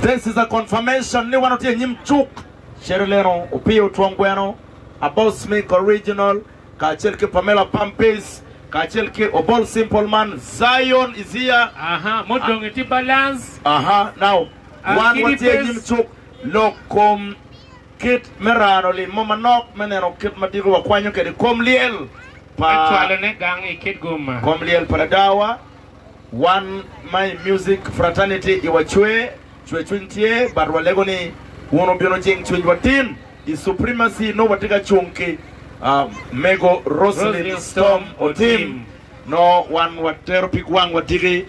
This is a confirmation ni wan watye inyim cuk cere leno Opio Twom Gweno, Abos Mik Original kacel ki Pamela Pampis kacel ki Obol Simple Man, Zion is here. Aha, mudong itye balance. Aha, now wan Kidi watye pes. inyim cuk lok kom kit me rano lim mo manok me neno kit ma diko wakwanyo kede kom lyel pa Me cwalone gang ikit gumma. kom lyel pa ladawa. Wan ma i Music Fraternity i wa cwer, cwer cwiny tye, but wa lego ni wun wu bino jing cwiny wa tin i Supremacy nongo wa tye ka cung ki Mego Roselyn Storm Otim nongo wan wa tero pig wang wa tiki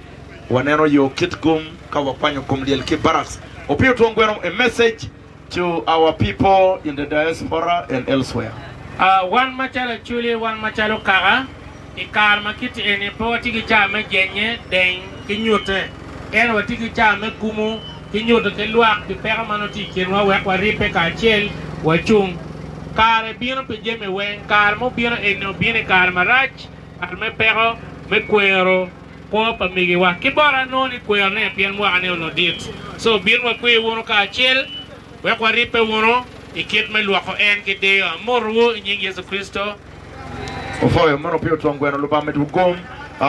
wa neno yo kit gum ka wa kwanyo gum lyel ki Barracks. Opiyo Twonggweno i message. to our people in the diaspora and elsewhere. Wan macalo Acholi, wan macalo Kaka, i kare ma kit eni pe watye ki cawa me jenye deng ki nyute, ento watye ki cawa me kumo ki nyuto ki lwak pi peko ma nongo tye i kinwa wek waribbe kacel wacung. Kare bino pi jami weng. Kare ma obino eni obino i kare marac, kare me peko, me kwero kwo pa migiwa. Ki bot an nongo ni kweyo ane pien mwaka ne onongo dit. So obin wakwe wunu kacel wek waribbe wunu i kit me lwoko en ki diyo. Amotowu i nying Yecu Kricito. Ofoyo mono pi otwong gweno Lubanga med wu gom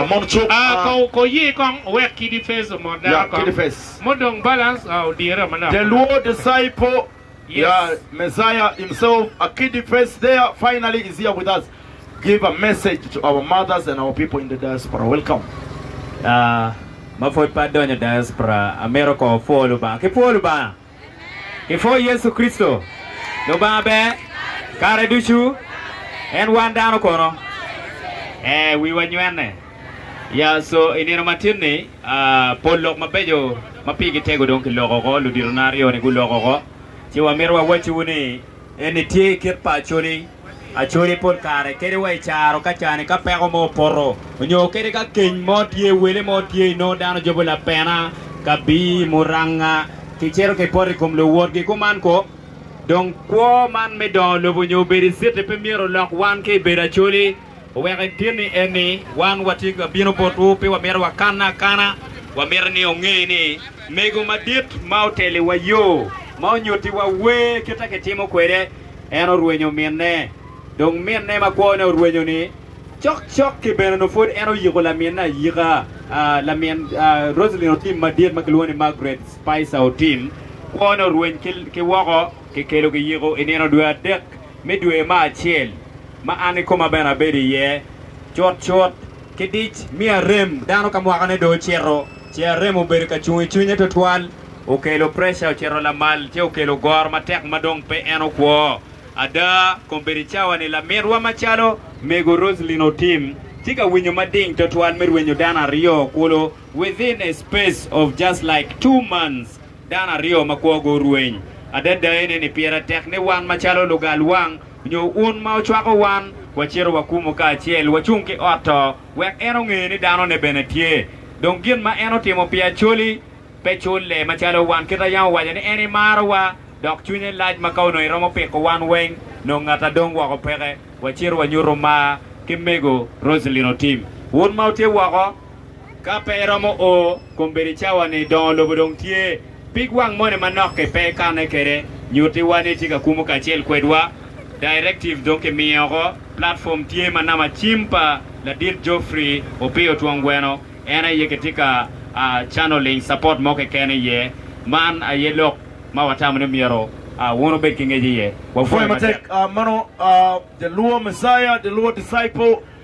mon cuk. Ko ko ye kong owek kidi face omot dako kong modong balance odyere manok manok. Deluo disciple. Yeah Messiah himself a kiddy face there finally is here with us give a message to our mothers and our people in the diaspora welcome. Yaa ma pud pe adonyo diaspora amito kor opwo lubanga ki pwo lubanga ki pwo yecu kricito lubanga ber kare ducu en wan dano kono ee wiwa nywene. Ya so i nino matin-ni, pol lok mabeco ma pigi tego dong kiloko oko. Luditona aryo-ni guloko oko. Ci wamito wawacciwu ni eni tye kit pa Acholi. Acholi pol kare kadi wa i caro ka cani ka peko mo opoto nyo kadi ka keny mo tye, wele mo tye, inongo dano jobo lapena, kabii, muranga, kicito kipoto i kom luwotgi. Kuman ko, dong kwo man me dongo lobo nyo bedo i citi pe myero olok wan ki i bedo Acholi. Oweko itinni en ni, Wan watye ka bino botwu, pe wamito wakanne akana. Wamito ni onge ni, Mego madit ma oteliwa yo, ma onyutiwa wer kite kitimo kwede, en orwenyo minne. Dong minne ma kwone orwenyo ni, cok cok ki bene nongo pwod en oyiko laminne ayika. Lamin Rosalyn otim madit ma kilwongo ni Margaret Spicer otim, kwone orweny ki woko, kikelo kiyiko i nino dwe adek. Me dwe me acel, ma an kikoma bene abedo iye cutcut ki dic, mi arem, dano ka mwakone dong ocito, ce arem obedo ka cung i cwinye twatwal, okelo preca ocito lamal, ce okelo goro matek ma dong pe en okwo. Ada, kombeddi cawa-ni laminwa macalo Mego Rosalyn otim, tye ka winyo mading twatwal me rwenyo dano aryo kulu within a space of just like two months. Dano aryo ma kwogo orweny adada ene ni pire tek ni wan macalo lugal wang nyo un ma wucwako wan wacito wakumu kacel wacung ki ot to wek en onge ni danone bene tye. Dong gin ma en otimo pi Acholi pe culle macalo wan kit a yam owaco ni en imarowa dok cwinye lac ma ka onongo iromo piko wan weng nongo ngata dong woko peke. Wacito wanyutu mar ki mego Roselyn Otim. Un ma wutye woko. Ka pe iromo o kombeddi cawa-ni, dongo lobo dong tye. Pig wang moni manok-ki pe ikanne kwede? Nyutiwa ni itye ka kumo kacel kwedwa. Directive dong kimiyo oko. Platform tye ma nama cim pa ladit Geoffrey Opiyo Twong Gweno en aye kitye ka channeling support mo keken iye. Man aye lok ma watamo ni myero wun wubed ki ngec iye. Wapwoyi matek. Mano Jaluo Messiah, Jaluo Disciple.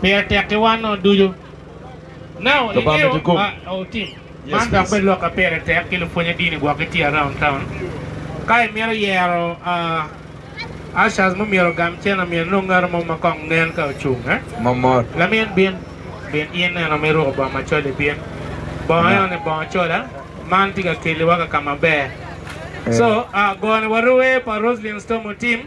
Pire tek ki wan o ducu. Now i ngeyo ma o tim man dok bed lok ka pire tek ki lupwonye dini gwok ki tye around town. Ka i mito yero ushers mo myero ogam cen omyero inong ngato mo ma kong nen ka ocung eh. Mamot. Lamin bin, bin in eno ma iruko bongo macol i bin. Bongo eno ni bongo cola. Man tye ka keliwa ka kama ber. So gone warue pa Roslyn Storm otim.